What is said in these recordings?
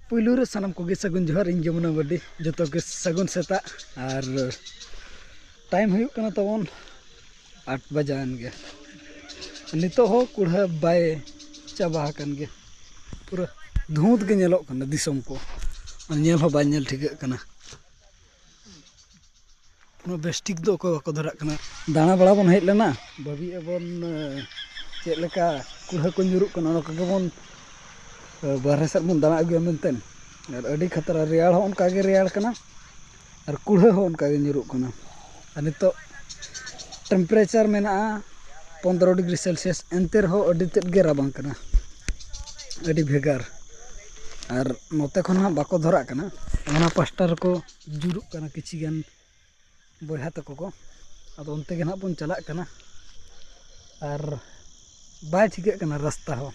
ᱯᱩᱭᱞᱩ ᱨᱮ ᱥᱟᱱᱟᱢ ᱠᱚᱜᱮ ᱥᱟᱹᱜᱩᱱ ᱡᱚᱦᱟᱨ ᱤᱧ ᱡᱚᱢᱩᱱᱟ ᱵᱟᱹᱨᱰᱤ ᱡᱚᱛᱚ ᱜᱮ ᱥᱟᱹᱜᱩᱱ ᱥᱮᱛᱟᱜ ᱟᱨ ᱴᱟᱭᱤᱢ ᱦᱩᱭᱩᱜ ᱠᱟᱱᱟ ᱛᱟᱵᱚᱱ ᱟᱴ ᱵᱟᱡᱟᱣᱮᱱ ᱜᱮ ᱱᱤᱛᱚᱜ ᱦᱚᱸ ᱠᱩᱲᱦᱟᱹ ᱵᱟᱭ ᱪᱟᱵᱟ ᱟᱠᱟᱱ ᱜᱮ ᱯᱩᱨᱟᱹ ᱫᱷᱩᱸᱛ ᱜᱮ ᱧᱮᱞᱚᱜ ᱠᱟᱱᱟ ᱫᱤᱥᱚᱢ ᱠᱚ ᱧᱮᱞ ᱦᱚᱸ ᱵᱟᱭ ᱧᱮᱞ ᱴᱷᱤᱠᱟᱹᱜ ᱠᱟᱱᱟ ᱩᱱᱟᱹᱜ ᱵᱮᱥ ᱴᱷᱤᱠ ᱫᱚ ᱚᱠᱚᱭ ᱵᱟᱠᱚ ᱫᱷᱟᱨᱟᱜ ᱠᱟᱱᱟ ᱫᱟᱬᱟ ᱵᱟᱲᱟ ᱵᱚᱱ ᱦᱮᱡ ᱞᱮᱱᱟ ᱵᱷᱟᱹᱵᱤ ᱟᱵᱚᱱ ᱪᱮᱫ ᱞᱮᱠᱟ ᱠᱩᱲᱦᱟᱹ ᱠᱚ ᱧᱩᱨᱩᱜ ᱠᱟᱱᱟ ᱚᱱᱟ ᱠᱚᱜᱮ ᱵᱚᱱ ᱵᱟᱨᱦᱮ ᱥᱮᱫ ᱵᱚᱱ ᱫᱟᱬᱟ ᱟᱹᱜᱩᱭᱟ ᱢᱮᱱᱛᱮ ᱟᱨ ᱟᱹᱰᱤ ᱠᱷᱟᱛᱨᱟ ᱨᱮᱭᱟᱲ ᱦᱚᱸ ᱚᱱᱠᱟ ᱜᱮ ᱨᱮᱭᱟᱲ ᱠᱟᱱᱟ ᱟᱨ ᱠᱩᱲᱦᱟᱹ ᱦᱚᱸ ᱚᱱᱠᱟ ᱜᱮ ᱧᱩᱨᱩᱜ ᱠᱟᱱᱟ ᱟᱨ ᱱᱤᱛᱚᱜ ᱴᱮᱢᱯᱟᱨᱮᱪᱟᱨ ᱢᱮᱱᱟᱜᱼᱟ ᱯᱚᱸᱫᱽᱨᱚ ᱰᱤᱜᱽᱨᱤ ᱥᱮᱞᱥᱤᱭᱟᱥ ᱮᱱᱛᱮ ᱨᱮᱦᱚᱸ ᱟᱹᱰᱤ ᱛᱮᱫ ᱜᱮ ᱨᱟᱵᱟᱝ ᱠᱟᱱᱟ ᱟᱹᱰᱤ ᱵᱷᱮᱜᱟᱨ ᱟᱨ ᱱᱚᱛᱮ ᱠᱷᱚᱱ ᱦᱟᱸᱜ ᱵᱟᱠᱚ ᱫᱷᱚᱨᱟᱜ ᱠᱟᱱᱟ ᱚᱱᱟ ᱯᱟᱥᱴᱟ ᱨᱮᱠᱚ ᱡᱩᱨᱩᱜ ᱠᱟᱱᱟ ᱠᱤᱪᱷᱩ ᱜᱟᱱ ᱵᱚᱭᱦᱟ ᱛᱟᱠᱚ ᱠᱚ ᱟᱫᱚ ᱚᱱᱛᱮ ᱜᱮ ᱦᱟᱸᱜ ᱵᱚᱱ ᱪᱟᱞᱟᱜ ᱠᱟᱱᱟ ᱟᱨ ᱵᱟᱭ ᱴᱷᱤᱠᱟᱹᱜ ᱠᱟᱱᱟ ᱨᱟᱥᱛᱟ ᱦᱚᱸ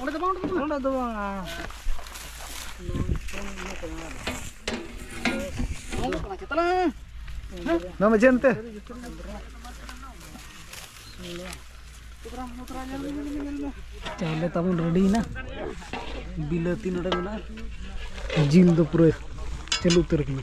ᱚᱸᱰᱮ ᱫᱚ ᱵᱟᱝ ᱚᱸᱰᱮ ᱫᱚ ᱵᱟᱝ ᱱᱚᱣᱟ ᱢᱟ ᱡᱮᱱ ᱛᱮ ᱪᱟᱣᱞᱮ ᱛᱟᱵᱚᱱ ᱨᱮᱰᱤᱭᱮᱱᱟ ᱵᱤᱞᱟᱹᱛᱤ ᱱᱚᱰᱮ ᱢᱮᱱᱟᱜᱼᱟ ᱡᱤᱞ ᱫᱚ ᱯᱩᱨᱟᱹ ᱪᱟᱹᱞᱩ ᱩᱛᱟᱹᱨ ᱠᱟᱱᱟ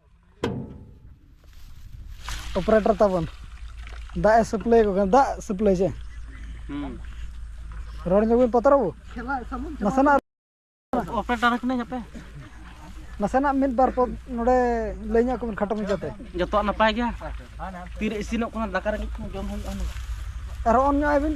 ᱚᱯᱟᱨᱮᱴᱚᱨ ᱛᱟᱵᱚᱱ ᱫᱟᱜ ᱮ ᱥᱟᱹᱯᱞᱟᱹᱭ ᱠᱚ ᱠᱟᱱᱟ ᱫᱟᱜ ᱥᱟᱹᱯᱞᱟᱹᱭ ᱪᱮ ᱨᱚᱲ ᱧᱚᱜ ᱵᱤᱱ ᱯᱟᱛᱨᱚ ᱵᱟᱹᱵᱩ ᱱᱟᱥᱮᱱᱟᱜ ᱚᱯᱟᱨᱮᱴᱚᱨ ᱠᱟᱹᱱᱟᱹᱧ ᱟᱯᱮ ᱱᱟᱥᱮᱱᱟᱜ ᱢᱤᱫ ᱵᱟᱨ ᱯᱚᱫ ᱱᱚᱰᱮ ᱞᱟᱹᱭ ᱧᱚᱜ ᱠᱚᱵᱤᱱ ᱠᱷᱟᱴᱚ ᱢᱚᱪᱟᱛᱮ ᱡᱚᱛᱚᱣᱟᱜ ᱱᱟᱯᱟᱭ ᱜᱮᱭᱟ ᱛᱤᱨᱮ ᱤᱥᱤᱱᱚᱜ ᱠᱟᱱᱟ ᱫᱟᱠᱟ ᱨᱮᱸᱜᱮᱡ ᱠᱚ ᱡᱚᱢ ᱦᱩᱭᱩᱜᱼᱟ ᱟᱨ ᱚᱱ ᱧᱚᱜ ᱟᱭᱵᱤᱱ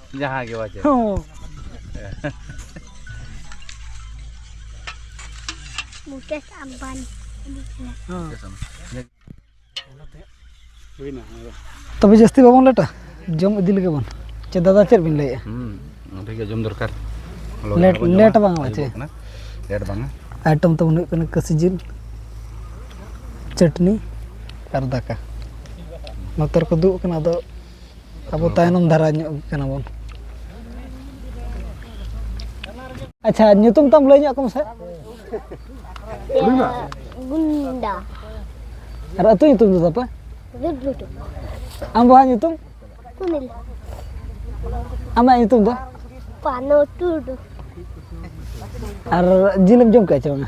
ᱡᱟᱦᱟᱸ ᱜᱮ ᱵᱟᱡᱮ ᱦᱚᱸ ᱢᱩᱠᱮᱥ ᱟᱢᱵᱟᱱᱤ ᱛᱚᱵᱮ ᱡᱟᱹᱥᱛᱤ ᱵᱟᱵᱚᱱ ᱞᱮᱴᱟ ᱡᱚᱢ ᱤᱫᱤ ᱞᱮᱜᱮ ᱵᱚᱱ ᱪᱮ ᱫᱟᱫᱟ ᱪᱮᱫ ᱵᱤᱱ ᱞᱟᱹᱭᱮᱜᱼᱟ ᱱᱚᱸᱰᱮ ᱜᱮ ᱡᱚᱢ ᱫᱚᱨᱠᱟᱨ ᱞᱮᱴ ᱞᱮᱴ ᱵᱟᱝ ᱵᱟᱪᱮ ᱞᱮᱴ ᱵᱟᱝᱟ ᱟᱭᱴᱚᱢ ᱛᱟᱵᱚᱱ ᱦᱩᱭᱩᱜ ᱠᱟᱱᱟ ᱠᱟᱹᱥᱤ ᱡᱤᱞ ᱪᱟᱹᱴᱱᱤ ᱟᱨ ᱫᱟᱠᱟ ᱱᱚᱛᱮ ᱨᱮᱠᱚ ᱫᱩᱜ ᱠᱟᱱᱟ ᱟᱫᱚ ᱟᱵᱚ ᱛᱟᱭᱱᱚᱢ ᱫᱷᱟᱨᱟ ᱧᱚᱜ ᱠᱟᱱᱟ ᱵᱚᱱ ᱟᱪᱪᱷᱟ ᱧᱩᱛᱩᱢ ᱛᱟᱢ ᱞᱟᱹᱭ ᱧᱚᱜ ᱠᱚᱢ ᱥᱮ ᱜᱩᱱᱰᱟ ᱟᱨ ᱟᱹᱛᱩ ᱧᱩᱛᱩᱢ ᱫᱚ ᱛᱟᱯᱮ ᱨᱩᱰᱞᱩᱴᱩ ᱟᱢ ᱵᱟᱦᱟ ᱧᱩᱛᱩᱢ ᱥᱩᱱᱤᱞ ᱟᱢᱟᱜ ᱧᱩᱛᱩᱢ ᱫᱚ ᱯᱟᱱᱚ ᱴᱩᱰᱩ ᱟᱨ ᱡᱤᱞᱮᱢ ᱡᱚᱢ ᱠᱟᱜᱼᱟ ᱪᱮ ᱵᱟᱝᱟ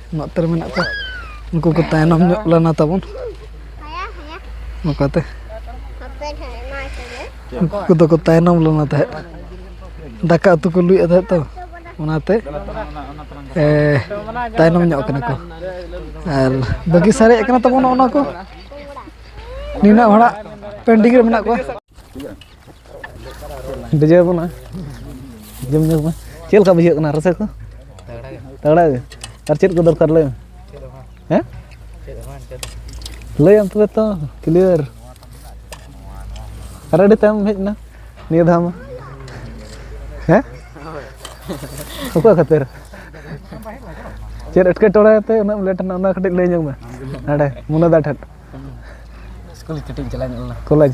ᱱᱚᱛᱮ ᱨᱮ ᱢᱮᱱᱟᱜ ᱠᱚᱣᱟ ᱩᱱᱠᱩ ᱠᱚ ᱛᱟᱭᱱᱚᱢ ᱧᱚᱜ ᱞᱮᱱᱟ ᱛᱟᱵᱚᱱ ᱱᱚᱝᱠᱟᱛᱮ ᱩᱱᱠᱩ ᱠᱚᱫᱚ ᱠᱚ ᱛᱟᱭᱱᱚᱢ ᱞᱮᱱᱟ ᱛᱟᱦᱮᱸᱫ ᱫᱟᱠᱟ ᱩᱛᱩ ᱠᱚ ᱞᱩᱭᱮᱫ ᱛᱟᱦᱮᱸᱫ ᱛᱚ ᱚᱱᱟᱛᱮ ᱛᱟᱭᱱᱚᱢ ᱧᱚᱜ ᱠᱟᱱᱟ ᱠᱚ ᱟᱨ ᱵᱟᱹᱜᱤ ᱥᱟᱨᱮᱡ ᱠᱟᱱᱟ ᱛᱟᱵᱚᱱ ᱚᱱᱟ ᱠᱚ ᱱᱤᱱᱟᱹᱜ ᱦᱚᱲᱟᱜ ᱯᱮᱱᱰᱤᱝ ᱨᱮ ᱢᱮᱱᱟᱜ ᱠᱚᱣᱟ ᱰᱤᱡᱮ ᱵᱚᱱᱟ ᱡᱚᱢ ᱧᱩ ᱢᱟ ᱪᱮᱫ ᱞᱮᱠᱟ ᱵᱩᱡᱷᱟᱹᱜ ᱠᱟᱱᱟ ᱨᱟᱹᱥᱠᱟᱹ ᱠᱚ ᱛᱟᱜᱲᱟ ᱜᱮ ᱟᱨ ᱪᱮᱫ ᱠᱚ ᱫᱚᱨᱠᱟᱨ ᱞᱟᱹᱭ ᱢᱮ ᱦᱮᱸ ᱞᱟᱹᱭᱟᱢ ᱛᱚᱵᱮ ᱛᱚ ᱠᱞᱤᱭᱟᱨ ᱟᱨ ᱟᱹᱰᱤ ᱛᱟᱭᱚᱢ ᱦᱮᱡ ᱮᱱᱟ ᱱᱤᱭᱟᱹ ᱫᱷᱟᱣ ᱢᱟ ᱦᱮᱸ ᱚᱠᱚᱭ ᱠᱷᱟᱹᱛᱤᱨ ᱪᱮᱫ ᱮᱴᱠᱮᱴᱚᱬᱮ ᱛᱮ ᱩᱱᱟᱹᱜ ᱞᱮᱴ ᱮᱱᱟ ᱚᱱᱟ ᱠᱟᱹᱴᱤᱡ ᱞᱟᱹᱭ ᱧᱚᱜ ᱢᱮ ᱱᱟᱰᱮ ᱢᱩᱱᱟᱹᱫᱟ ᱴᱷᱮᱱ ᱥᱠᱩᱞ ᱠᱟᱹᱴᱤᱡ ᱤᱧ ᱪᱟᱞᱟᱣ ᱧᱚᱜ ᱞᱮᱱᱟ ᱠᱚᱞᱮᱡᱽ